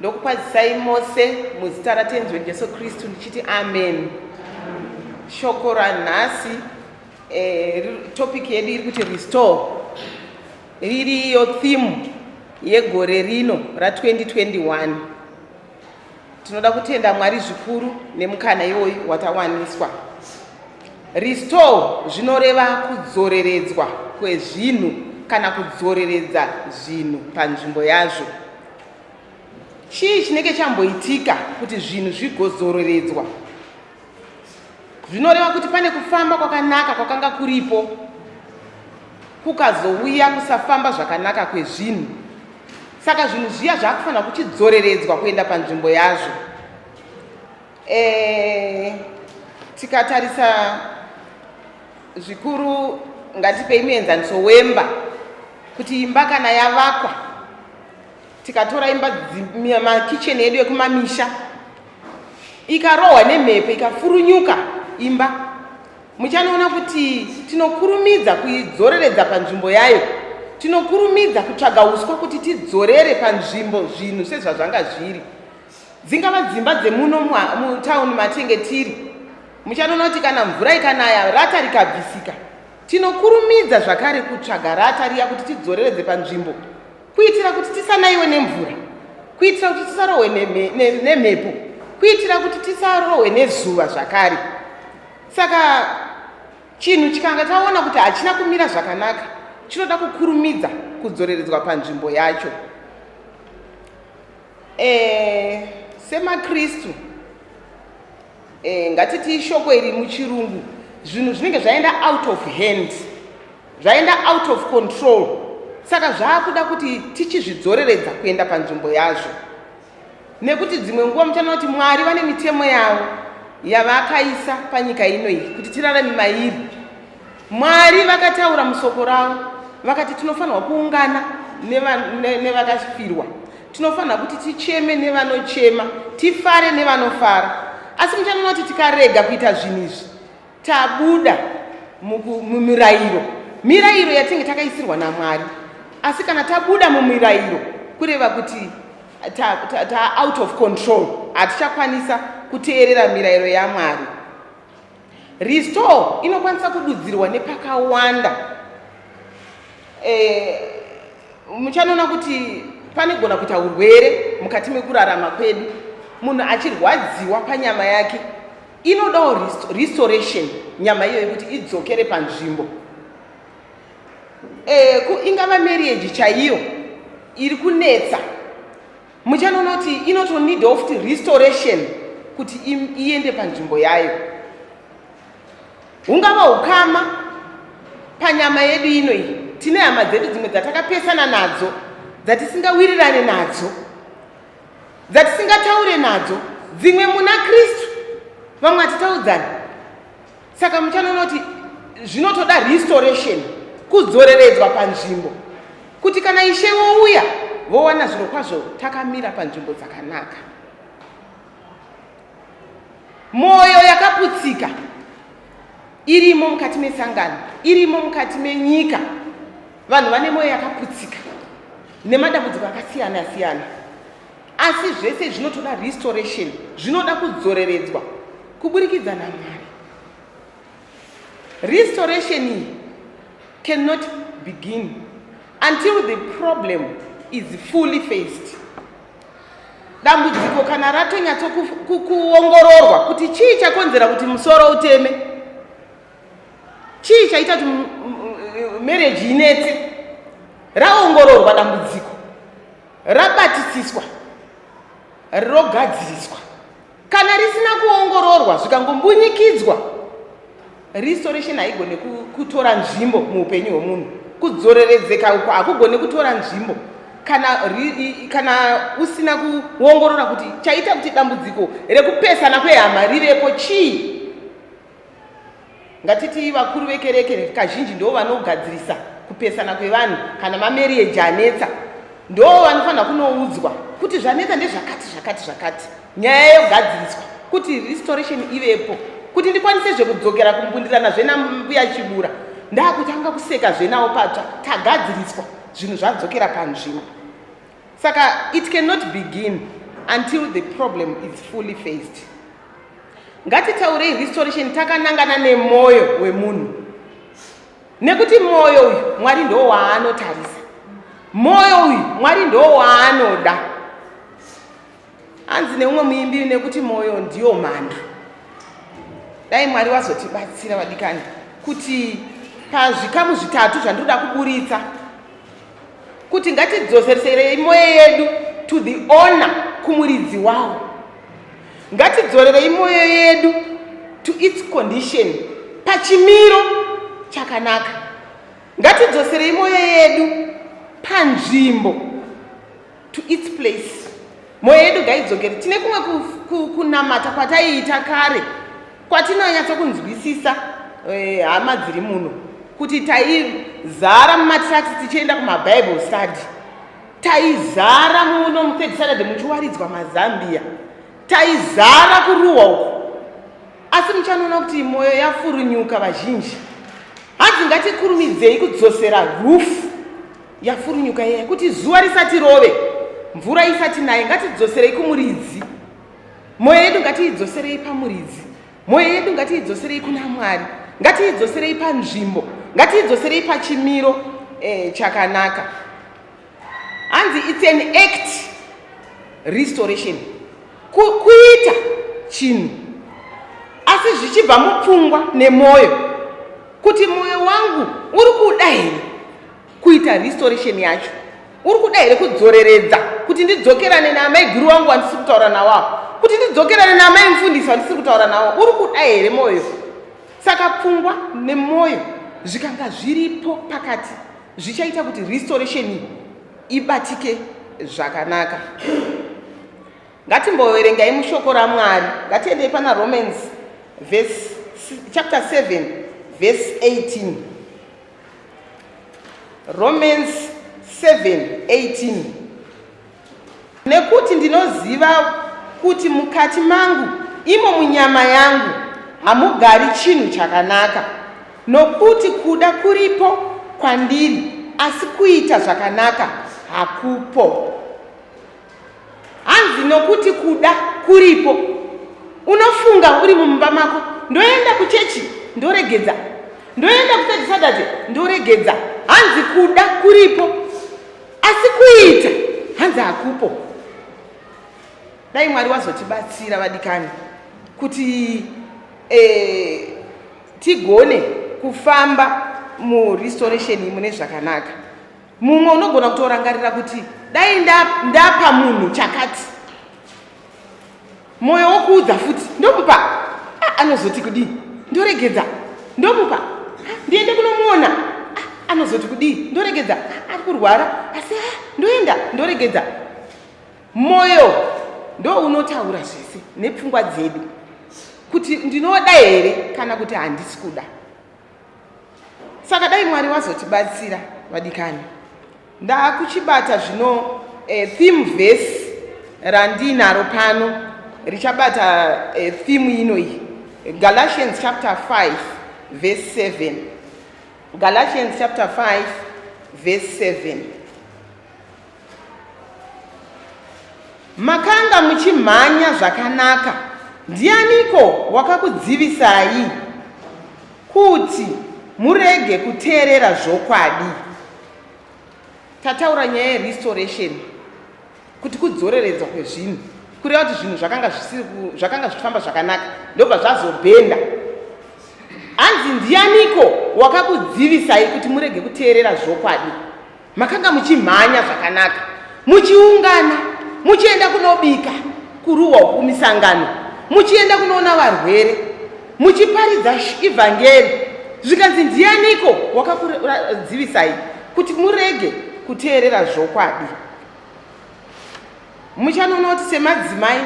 Ndokukwazisai mose muzita raTenzi wedu Jesu Kristu ndichiti amen. Shoko ranhasi eh, topic yedu iri kuti restore ririyo theme yegore rino ra 2021. Tinoda kutenda Mwari zvikuru nemukana iwoyu watawaniswa. Restore zvinoreva kudzoreredzwa kwezvinhu kana kudzoreredza zvinhu panzvimbo yazvo. Chii chinenge chamboitika kuti zvinhu zvigodzoreredzwa? Zvinoreva kuti pane kufamba kwakanaka kwakanga kuripo kukazouya kusafamba zvakanaka kwezvinhu. Saka zvinhu zviya zvakufanira kuchidzoreredzwa kuenda panzvimbo yazvo. Eh, tikatarisa zvikuru ngatipei muenzaniso wemba kuti imba kana yavakwa tikatora imba makicheni edu ekumamisha ikarohwa nemhepo ikafurunyuka imba muchanoona kuti tinokurumidza kuidzoreredza panzvimbo yayo tinokurumidza kutsvaga uswa kuti tidzorere panzvimbo zvinhu sezvazvanga zviri dzingava dzimba dzemuno mutown matenge tiri muchanoona kuti kana mvura ikanaya rata rikabvisika tinokurumidza zvakare kutsvaga rata riya kuti tidzoreredze panzvimbo kuitira kuti tisanaiwe nemvura kuitira kuti tisarohwe nemhepo kuitira kuti tisarohwe nezuva zvakare saka chinhu chikanga taona kuti hachina kumira zvakanaka chinoda kukurumidza kudzoreredzwa panzvimbo yacho Eh, semaKristu eh, ngatiti ishoko iri muchirungu zvinhu zvinenge zvaenda out of hand zvaenda out of control saka zvaakuda kuti tichizvidzoreredza kuenda panzvimbo yazvo nekuti dzimwe nguva muchana kuti mwari vane mitemo yavo yavakaisa panyika ino iyi kuti tirarame mairi Mwari vakataura musoko ravo vakati tinofanirwa kuungana nevakafirwa ne, ne tinofanira kuti ticheme nevanochema tifare nevanofara asi muchanoona kuti tikarega kuita zvinhu izvi tabuda mumirayiro mirayiro yatinge takaisirwa namwari asi kana tabuda mumirayiro kureva kuti ta, ta, ta out of control hatichakwanisa kuteerera mirayiro yamwari Restore inokwanisa kududzirwa nepakawanda. Eh, muchanoona kuti panegona kuita urwere mukati mekurarama kwedu munhu achirwadziwa panyama yake inodawo restoration nyama iyoyo kuti idzokere panzvimbo e, ingava marriage chaiyo iri kunetsa muchanoona kuti inotonida ofti restoration kuti iende panzvimbo yayo hungava ukama panyama yedu ino iyi tine hama dzedu dzimwe dzatakapesana nadzo dzatisingawirirane nadzo dzatisingataure nadzo dzimwe muna kristu vamwe hatitaudzani saka muchano unoti zvinotoda restoration kudzoreredzwa panzvimbo kuti kana ishe vouya vowana zviro kwazvo takamira panzvimbo dzakanaka mwoyo yakaputsika irimo mukati mesangano irimo mukati menyika vanhu vane mwoyo yakaputsika nemadambudziko akasiyana siyana asi zvese zvinotoda restoration zvinoda kudzoreredzwa kuburikidza namwari restoration iyi cannot begin until the problem is fully faced dambudziko kana ratonyatsokuongororwa kuti chii chakonzera kuti musoro uteme chii chaita kuti mereji inetse raongororwa dambudziko rabatisiswa rogadziriswa kana risina kuongororwa zvikangombunyikidzwa restoration haigone kutora nzvimbo muupenyu hwemunhu kudzoreredzeka uko hakugone kutora nzvimbo kana, kana usina kuongorora kuti chaita kuti dambudziko rekupesana kwehama rivepo chii Ngatitii vakuru vekereke kazhinji ndoo vanogadzirisa kupesana kwevanhu kana mamarriage anetsa ndoo vanofanira kunoudzwa kuti zvanetsa ndezvakati zvakati zvakati nyaya yogadziriswa kuti restoration ivepo kuti ndikwanise zvekudzokera kumbundirana zvenambuya chibura ndakutanga kuseka zvenawo patsva tagadziriswa zvinhu zvadzokera panzvimbo saka it cannot begin until the problem is fully faced ngatitaurei restoration takanangana nemwoyo wemunhu nekuti mwoyo uyu mwari ndo waanotarisa mwoyo uyu mwari ndo waanoda hanzi neumwe muimbi nekuti mwoyo ndiyo mhando dai mwari wazotibatsira vadikani kuti pazvikamu zvitatu zvandinoda kuburitsa kuti ngatidzosereserei moyo yedu to the owner kumuridzi wawo ngatidzorerei moyo yedu to its condition pachimiro chakanaka ngatidzoserei moyo yedu panzvimbo to its place moyo yedu gaidzokere tine kumwe kunamata kwataiita kare kwatinonyatsa kunzwisisa eh, hama e, dziri muno kuti taizara mumatracks tichienda kumabible study taizara muno muthird saturday muchiwaridzwa mazambia taizara kuruwa uko asi muchanoona kuti mwoyo yafurunyuka vazhinji hanzi ngatikurumidzei kudzosera rufu yafurunyuka iya kuti zuva risati rove mvura isati naye ngatidzoserei kumuridzi mwoyo yedu ngatiidzoserei pamuridzi mwoyo yedu ngatiidzoserei kuna mwari ngatiidzoserei panzvimbo ngatiidzoserei pachimiro eh, chakanaka hanzi its an act restoration kuita chinhu asi zvichibva mupfungwa nemwoyo kuti mwoyo wangu uri kuda here kuita restoration yacho uri kuda here kudzoreredza kuti ndidzokerane naamai guru wangu wandisiri kutaura nawo apo kuti ndidzokerane naamai mufundisi wandisiri kutaura nawo uri kuda here mwoyo saka pfungwa nemwoyo zvikanga zviripo pakati zvichaita kuti restoration iyi ibatike zvakanaka ngatimboverengai mushoko ramwari ngatiendei pana romans chapter 7 verse 18 Romans 7:18 Nekuti ndinoziva kuti mukati mangu imo munyama yangu hamugari chinhu chakanaka nokuti kuda kuripo kwandiri asi kuita zvakanaka hakupo hanzi nokuti kuda kuripo unofunga uri mumba mako ndoenda kuchechi ndoregedza ndoenda kuthird saturday ndoregedza hanzi kuda kuripo asi kuita hanzi hakupo dai mwari wazotibatsira vadikani kuti eh, tigone kufamba murestoration mune zvakanaka mumwe unogona kutorangarira kuti dai ndapa munhu chakati mwoyo wokuudza futi ndomupa ah, anozoti kudii ndoregedza ndomupa ah, ndiende kunomuona ah, anozoti kudii ndoregedza ari kurwara asi ndoenda ndoregedza mwoyo ndo unotaura zvese nepfungwa dzedu kuti ndinoda here kana kuti handisi kuda saka dai mwari vazotibatsira vadikani ndakuchibata zvino eh, theme vhesi randiinaro pano richabata eh, theme ino iyi galatians chapter 5 vhesi 7 galatians chapter 5 vhesi 7 Makanga muchimhanya zvakanaka. Ndianiko wakakudzivisai kuti murege kuteerera zvokwadi? Tataura nyaya yerestoration kuti kudzoreredzwa kwezvinhu kureva kuti zvinhu zvakanga zvisiri zvakanga zvichifamba zvakanaka ndobva zvazobhenda hanzi ndianiko wakakudzivisai kuti murege kuteerera zvokwadi makanga muchimhanya zvakanaka muchiungana muchienda kunobika kuruwa uku misangano muchienda kunoona varwere muchiparidza ivhangeri zvikanzi ndianiko wakakuradzivisai kuti murege kuteerera zvokwadi Muchanoona kuti semadzimai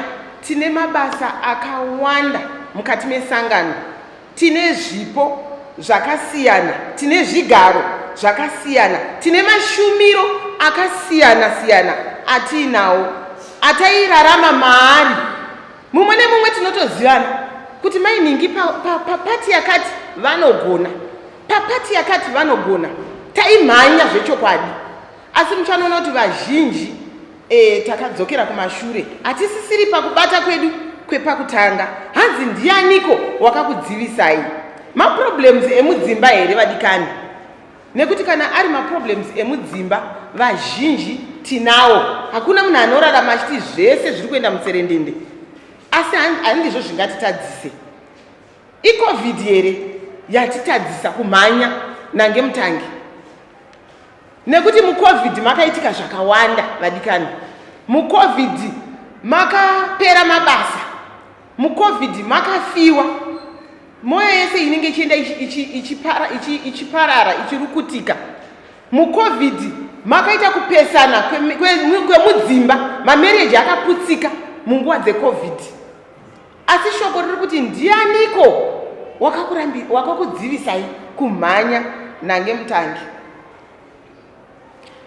tine mabasa akawanda mukati mesangano. Tine zvipo zvakasiyana, tine zvigaro zvakasiyana, tine mashumiro akasiyana siyana atiinawo atairarama maari. Mumwe nemumwe tinotozivana kuti mai Ningi papati pa, pa, pa yakati vanogona, papati yakati vanogona. Taimhanya zvechokwadi, Asi muchanoona kuti vazhinji e, takadzokera kumashure, hatisisiri pakubata kwedu kwepakutanga. Hanzi ndianiko wakakudzivisai? Maproblems emudzimba here vadikani? Nekuti kana ari maproblems emudzimba vazhinji tinawo, hakuna munhu anorarama achiti zvese zviri kuenda mutserendende, asi handizvo zvingatitadzise. Icovid here yatitadzisa kumhanya nange mutangi? nekuti mucovid makaitika zvakawanda vadikani mucovid makapera mabasa mucovid makafiwa mwoyo yese inenge ichienda ichiparara ichirukutika mucovid makaita kupesana kwemudzimba mamereji akaputsika munguva dzecovid asi shoko riri kuti ndianiko wakakudzivisai kumhanya nange mutangi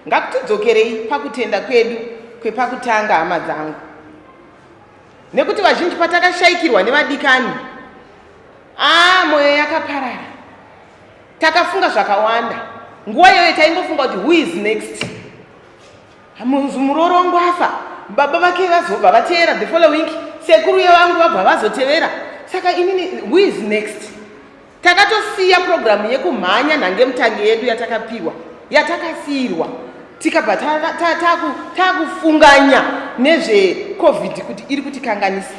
ngakutidzokerei pakutenda kwedu kwepakutanga hama dzangu nekuti vazhinji patakashaikirwa nevadikani aa ah, mwoyo yakaparara takafunga zvakawanda nguva iyoyo taingofunga kuti who is next Munzi muroora wangu afa, baba vake vazobva vateera the following, sekuru yevangu vabva vazotevera. Saka inini who is next? Takatosiya program yekumhanya nhange mutange yedu yatakapiwa, yatakasiirwa tikabva takufunganya nezvecovid kuti iri kutikanganisa.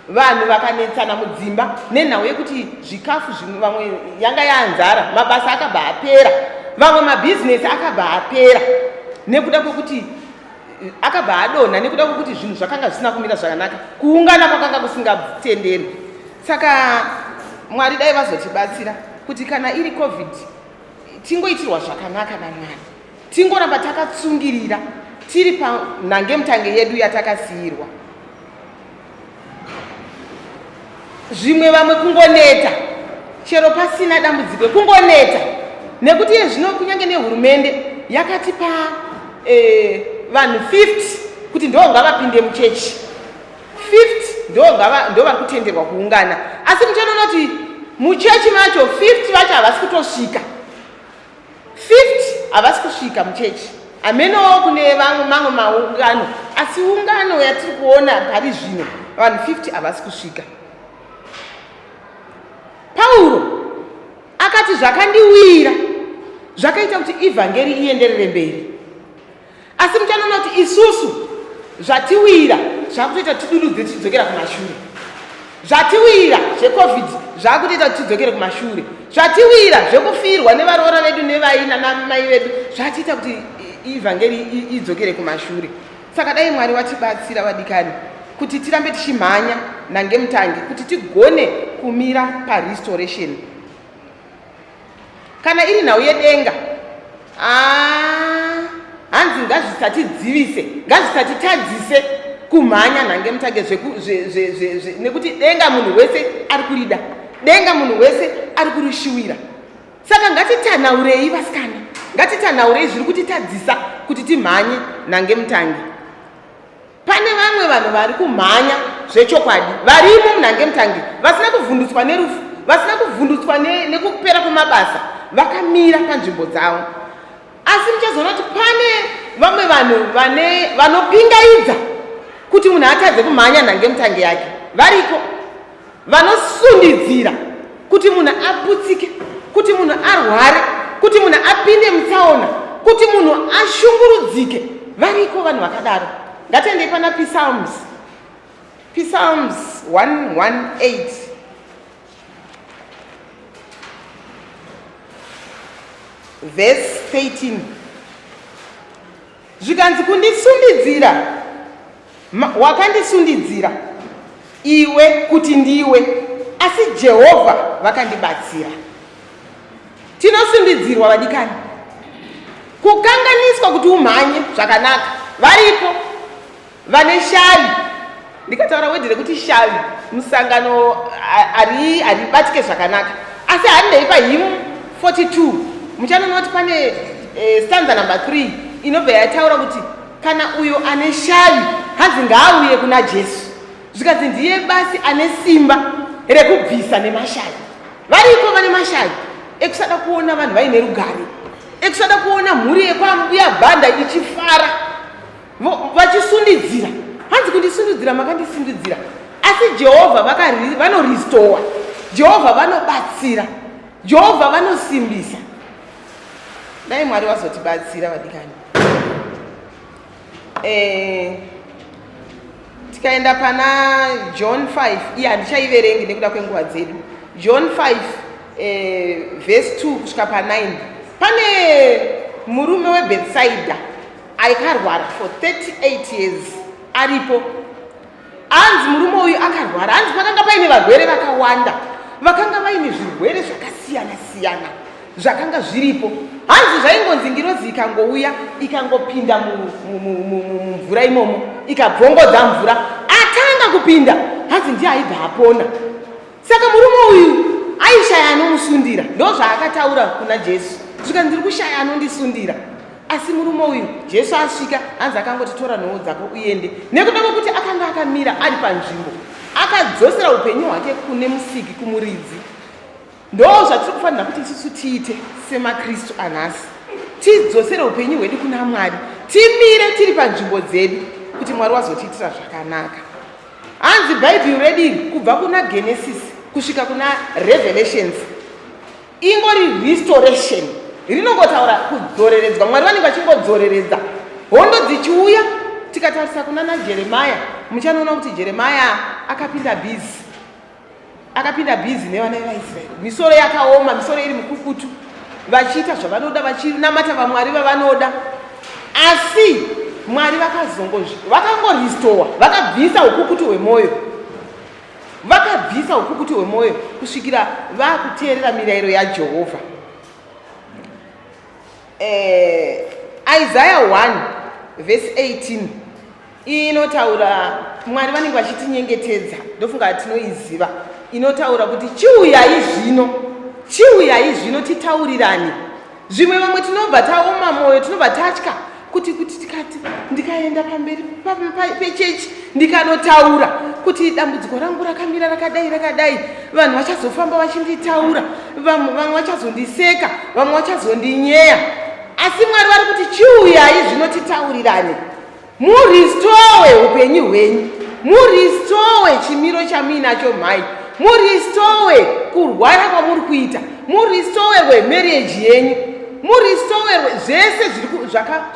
vanhu vakanetsana mudzimba nenhau yekuti zvikafu zvimwe vamwe yanga yanzara mabasa akabva apera vamwe mabhizinesi akabva apera nekuda kwekuti eh, akabva adonha nekuda kwekuti zvinhu zvakanga zvisina kumira zvakanaka kuungana kwakanga kusingatenderi saka mwari dai vazotibatsira kuti kana iri covid tingoitirwa zvakanaka namwari tingoramba takatsungirira tiri panhange mutange yedu yatakasiirwa zvimwe vamwe kungoneta chero pasina dambudziko kungoneta nekuti iye zvino kunyange nehurumende yakatipa eh, vanhu 50 kuti ndo ngavapinde muchechi 50 ndo vari kutenderwa kuungana asi muchanoona kuti muchechi macho 50 vacho havasi kutosvika 50 havasi kusvika muchechi hamenowo kune vamwe mamwe maungano asi ungano yatiri kuona pari zvino vanhu 50 havasi kusvika pauro akati zvakandiwira zvakaita kuti evhangeri ienderere mberi asi muchanoona kuti isusu zvatiwira zvakutoita tidududze tichidzokera kumashure zvatiwira zvecovid zvakutoita tichidzokere kumashure zvatiwira zvekufirwa nevaroora vedu nevaina namai vedu zvatiita kuti ivhangeri idzokere kumashure saka dai mwari watibatsira vadikani kuti tirambe tichimhanya nangemutangi kuti tigone kumira parestoration kana iri nhau yedenga ah, hanzi ngazvisatidzivise ngazvisatitadzise kumhanya nhange mutage nekuti denga munhu wese ari kurida denga munhu wese ari kurishuwira saka ngatitanaurei vasikana ngatitanaurei zviri kutitadzisa kuti timhanye nhange mutange Pane vamwe vanhu vari kumhanya zvechokwadi varimo munhange mutange vasina kuvhundutswa nerufu vasina kuvhundutswa nekupera kwemabasa vakamira panzvimbo dzavo asi muchazoona kuti pane vamwe vanhu vane vanopingaidza kuti munhu atadze kumhanya nhange mutange yake variko vanosundidzira kuti munhu aputsike kuti munhu arware kuti munhu apinde mutsaona kuti munhu ashungurudzike variko vanhu vakadaro ngatiendei pana psalms psalms 118 verse 13 Zvikanzi kundisundidzira, wakandisundidzira iwe kuti ndiwe, asi Jehovha vakandibatsira. Tinosundidzirwa vadikani, kukanganiswa kuti umhanye zvakanaka, varipo vane shavi ndikataura wedhi rekuti shavi musangano haribatike zvakanaka asi handei pahim 42 muchanoona kuti pane eh, stanza number 3 inobva yataura kuti kana uyo ane shavi hanzi ngaauye kuna jesu zvikanzi ndiye basi ane simba rekubvisa nemashavi variko vane mashavi ekusada kuona vanhu vaine rugare ekusada kuona mhuri yekwamuya bhanda ichifara vachisundidzira hanzi kundisundidzira makandisundidzira asi jehovha vanoristowa jehovha vanobatsira jehovha vanosimbisa dai mwari vazotibatsira vadikani eh, tikaenda pana john 5 iye handichaiverengi nekuda kwenguva dzedu john 5 eh, vhesi 2 kusvika pa 9 pane murume webetsaida Aikarwara for 38 years aripo anzi murume uyu akarwara anzi pakanga paine varwere vakawanda vakanga vaine zvirwere zvakasiyana siyana zvakanga zviripo hanzi zvaingonzi ngirozi ikangouya ikangopinda mumvura imomo ikabvongodza mvura atanga kupinda hanzi ndiye aibva apona saka murume uyu aishaya anomusundira ndozvaakataura kuna jesu zvikanzi ndiri kushaya anondisundira asi murume uyu jesu asvika hanzi akangoti tora nhowo dzako uende nekuda kwekuti akanga akamira ari panzvimbo akadzosera upenyu hwake kune musiki kumuridzi ndo zvatiri kufanira kuti isusu tiite semakristu anhasi tidzosere upenyu hwedu kuna mwari timire tiri panzvimbo dzedu kuti mwari wazotiitira zvakanaka hanzi bhaibheri rediri kubva kuna genesis kusvika kuna revelations ingori restoration rinongotaura kudzoreredzwa mwari vanenge vachingodzoreredza hondo dzichiuya tikatarisa kuna najeremaya muchanoona kuti jeremaya akapinda bhizi akapinda bhizi nevana vevaisraeri misoro yakaoma misoro iri mukukutu vachiita zvavanoda vachinamata vamwari vavanoda asi mwari vakazongozvi vakangorestowa vakabvisa ukukutu hwemwoyo Vakabvisa ukukutu hwemwoyo kusvikira vakuteerera mirayiro yaJehovha. Eh, Isaiah 1 verse 18 inotaura Mwari vanenge vachitinyengetedza, ndofunga tinoiziva. Inotaura kuti chiuyai zvino, chiuyai zvino titaurirane. zvimwe vamwe tinobva taoma mwoyo tinobva tatya kuti kuti tikati ndikaenda pamberi pechechi ndikanotaura kuti dambudziko rangu rakamira rakadai rakadai vanhu vachazofamba vachinditaura vamwe vamwe vachazondiseka vamwe vachazondinyeya asi mwari vari kuti chiuyai zvino titaurirane muristowe upenyu hwenyu muristowe chimiro chamuinacho mhai muristowe kurwara kwamuri kuita muristowe rwemarriage yenyu muristowe zvese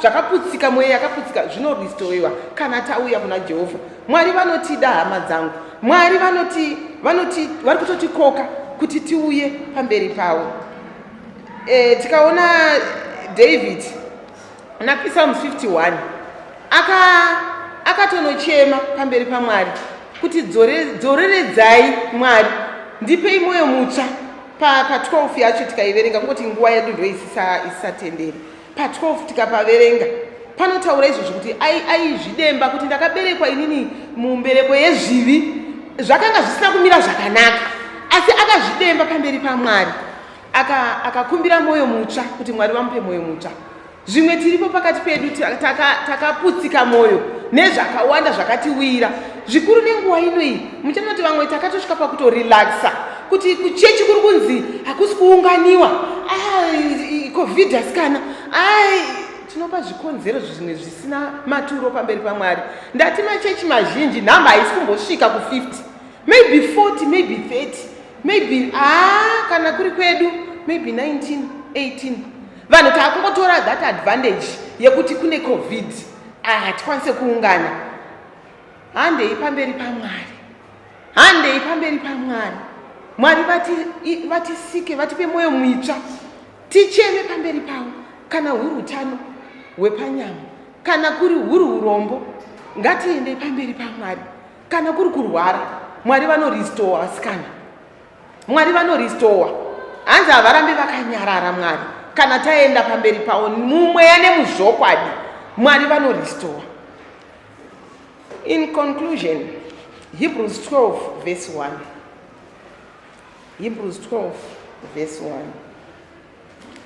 zvakaputsika mweya yakaputsika zvinoristowewa kana tauya kuna jehovha mwari vanotida hama dzangu mwari vanoti vanoti vari kutotikoka kuti tiuye pamberi pavo e, tikaona david Muna Pisalm 51 aka akatonochema pamberi paMwari kuti dzoreredzai Mwari ndipei mwoyo mutsva pa, pa 12 yacho tikaiverenga kungoti nguva yedu ndo isisatenderi pa 12 tikapaverenga panotaura izvo zvekuti aizvidemba kuti ndakaberekwa inini mumbereko yezvivi zvakanga zvisina kumira zvakanaka asi akazvidemba pamberi pamwari akakumbira aka mwoyo mutsva kuti mwari vamupe mwoyo mutsva zvimwe tiripo pakati pedu takaputsika taka mwoyo nezvakawanda zvakatiwira zvikuru nenguva ino iyi muchana kuti vamwe takatosvika pakutorelaxa kuti kuchechi kuri kunzi hakusi kuunganiwa ah, covid hasikana ah, tinopa zvikonzero zvimwe zvisina maturo pamberi pamwari ndati machechi mazhinji nhamba haisi kumbosvika ku50 maybe 40 maybe 30 maybe ah kana kuri kwedu maybe 19 18 vanhu taakungotora that advantage yekuti kune covid ah, hatikwanise kuungana handei pamberi pamwari handei pamberi pamwari mwari vatisike vatipe mwoyo muitsva ticheme pamberi pavo kana huri utano hwepanyama kana kuri huri urombo ngatiendei pamberi pamwari kana kuri kurwara mwari vanoristowa vasikana mwari vanoristowa hanzi havarambi vakanyarara mwari kana taenda pamberi pavo mumweya nemuzvokwadi mwari vanoristowa in conclusion hebrews 12 verse 1 hebrews 12 verse 1 Thank you.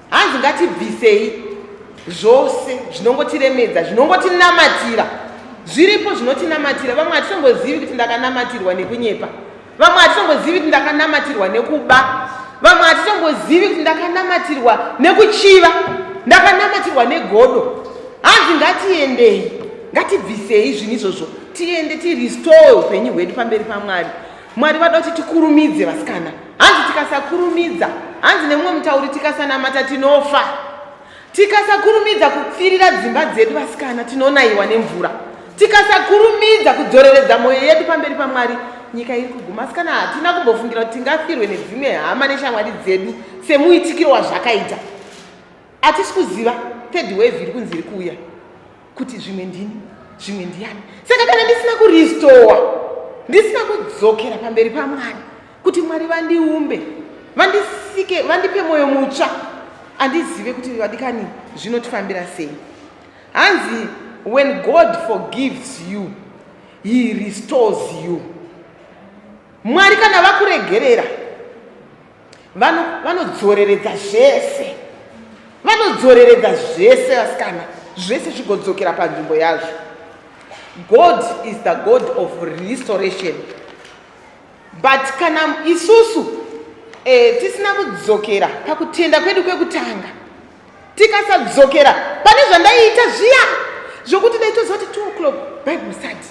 hanzi ngatibvisei zvose zvinongotiremedza zvinongotinamatira zviripo zvinotinamatira vamwe hatitongozivi kuti ndakanamatirwa nekunyepa vamwe hatitongozivi kuti ndakanamatirwa nekuba vamwe hatitongozivi kuti ndakanamatirwa nekuchiva ndakanamatirwa negodo hanzi ngatiendei ngatibvisei zvinhu izvozvo tiende tirestore upenyu hwedu pamberi pamwari Mwari vada kuti tikurumidze vasikana. Hanzi tikasakurumidza, hanzi nemumwe mutauri tikasanamata tinofa. Tikasakurumidza kupfirira dzimba dzedu vasikana tinonaiwa nemvura. Tikasakurumidza kudzoreredza mwoyo yedu pamberi paMwari nyika iri kuguma asikana hatina kumbofungira kuti tingafirwe nedzimwe hama neshamwari dzedu semuitikiro wazvakaita hatisi kuziva third wave iri kunzi iri kuuya kuti zvimwe ndini zvimwe ndiyani saka kana ndisina kuristowa ndisina kudzokera pamberi pamwari kuti mwari vandiumbe vandisike vandipe mwoyo mutsva andizive kuti vadikani zvinotifambira sei hanzi when god forgives you he restores you mwari kana vakuregerera vano vanodzoreredza zvese vanodzoreredza zvese vasikana zvese zvigodzokera panzvimbo yazvo god is the god of restoration but kana isusu eh, tisina kudzokera pakutenda kwedu kwekutanga tikasadzokera pane zvandaiita zviya zvokuti ndaitozoti two o'clock bible study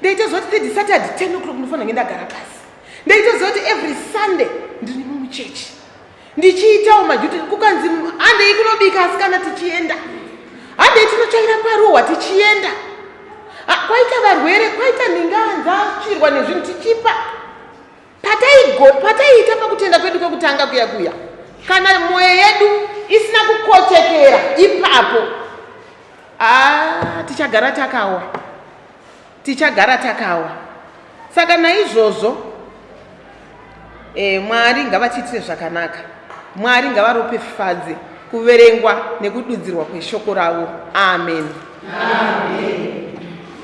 ndaitozoti third saturday ten o'clock ndinofanira kunge ndagara pasi ndaitozoti every sunday ndiri mumuchechi ndichiitawo majuti kukanzi handei kunobika asi kana tichienda handei tinotsvaira paruhwa tichienda kwaita varwere kwaita ndinganzachirwa nezvinhu tichipa pataiita pakutenda kwedu kwekutanga kuya kuya kana mwoyo yedu isina kukochekera ipapo ah, tichagara takawa tichagara takawa saka naizvozvo e, mwari ngavatiitire zvakanaka mwari ngavarope fadzi kuverengwa nekududzirwa kweshoko ravo amen, amen.